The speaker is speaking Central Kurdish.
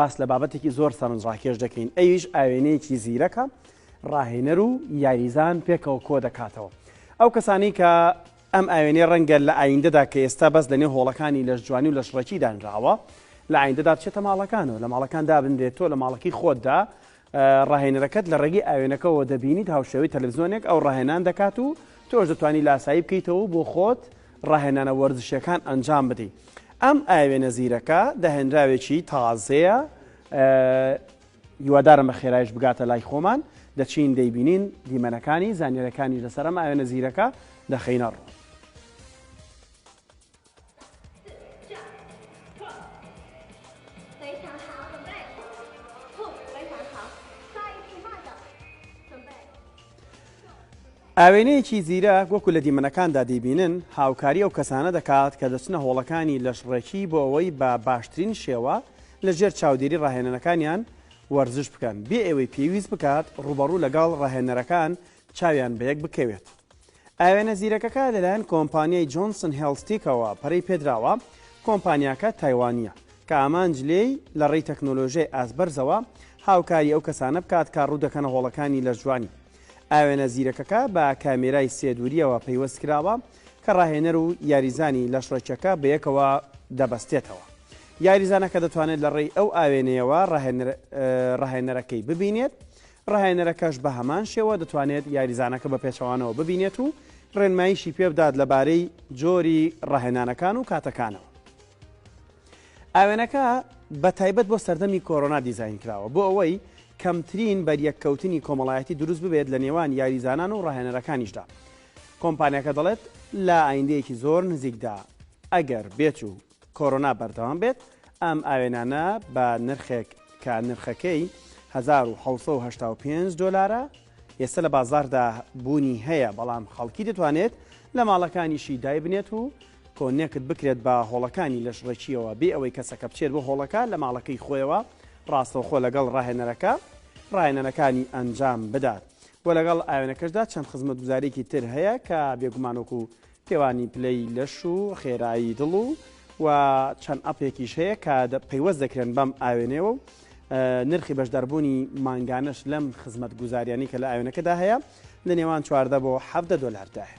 باس لە بابەتێکی زۆر سەرنجڕاکێش دەکەین ئەویش ئاوێنەیەکی زیرەکە ڕاهێنەر و یاریزان پێکەوە کۆ دەکاتەوە ئەو کەسانی کە ئەم ئاوێنەی ڕەنگە لە ئایندەدا کە ئێستا بەس لەنێ هۆڵەکانی لەش جوانی و لەشڕێکی دانراوە لە ئایندەدا بچێتە ماڵەکانەوە لە ماڵەکان دابنرێت تۆ لە ماڵەکەی خۆتدا ڕاهێنەرەکەت لە ڕێگەی ئاوێنەکەوە دەبینیت هاوشێوەی تەلەڤزیۆنێک ئەو ڕاهێنان دەکات و تۆش دەتوانی لاسایی بکەیتەوە و بۆ خۆت ڕاهێنانە وەرزشیەکان ئەنجام بدەیت ئەم ئاوێنە زیرەکە داهێنراوێکی تازەیە هیوادارم بە خێرایش بگاتە لای خۆمان دەچین دەیبینین دیمەنەکانی زانیارەکانی لەسەرم ئاوێنە زیرەکە دەخینەڕوو ئاوێنەیەکی زیرەک وەکو لە دیمەنەکاندا دەیبینن، هاوکاری ئەو کەسانە دەکات کە دەچنە هۆڵەکانی لەشڕێکی بۆ ئەوەی بە باشترین شێوە لە ژێر چاودێری ڕاهێنەرەکانیان وەرزش بکەن، بێ ئەوەی پێویست بکات ڕووبەڕوو لەگەڵ ڕاهێنەرەکان چاویان بەیەک بکەوێت. ئاوێنە زیرەکەکە لەلایەن کۆمپانیای جۆنسن هێڵستیکەوە پەرەی پێدراوە، کۆمپانیاکە تایوانییە، کە ئامانج لێی لە ڕێی تەکنۆلۆژیای ئاست بەرزەوە هاوکاری ئەو کەسانە بکات کە ڕوو دەکەنە هۆڵەکانی لەشجوانی. ئاوێنە زیرەکەکە بە کامێرای سێ دوورییەوە پەیوەست کراوە کە ڕاهێنەر و یاریزانی لەشڕێکیەکە بەیەکەوە دەبەستێتەوە. یاریزانەکە دەتوانێت لە ڕێی ئەو ئاوێنەیەوە ڕاهێنەرەکەی ببینێت ڕاهێنەرەکەش بە هەمان شێوە دەتوانێت یاریزانەکە بە پێچەوانەوە ببینێت و ڕێنماییشی پێبدات لەبارەی جۆری ڕاهێنانەکان و کاتەکانەوە. ئاوێنەکە بە تایبەت بۆ سەردەمی کۆرۆنا دیزاین کراوە بۆ ئەوەی کەمترین بەریەککەوتنی کۆمەڵایەتی دروست ببێت لە نێوان یاریزانان و ڕاهێنەرەکانیشدا. کۆمپانیاکە دەڵێت لە ئایندەیەکی زۆر نزیکدا ئەگەر بێت و کۆرۆنا بەردەوام بێت، ئەم ئاوێنانە بە نرخێک کە نرخەکەی هەزار و حەوت سەد و هەشتا و پێنج دۆلارە، ئێستە لە بازاڕدا بوونی هەیە، بەڵام خەڵکی دەتوانێت لە ماڵەکانیشی دایبنێت و کۆنێکت بکرێت بە هۆڵەکانی لەشڕێکییەوە بێ ئەوەی کەسەکە بچێت بۆ هۆڵەکە لە ماڵەکەی خۆیەوە ڕاستەوخۆ لەگەڵ ڕاهێنەرەکە ڕاهێنانەکانی ئەنجام بدات و لەگەڵ ئاوێنەکەشدا چەند خزمەتگوزاریەکی تر هەیە کە بێگومان وەکو پێوانی پلەی لەش و خێرایی دڵ و و چەند ئەپێکیش هەیە کە پەیوەست دەکرێن بەم ئاوێنەوە و نرخی بەشداربوونی مانگانەش لەم خزمەت گوزاریانی کە لە ئاوێنەکەدا هەیە لە نێوان چواردە بۆ حەفدە دۆلاردایە.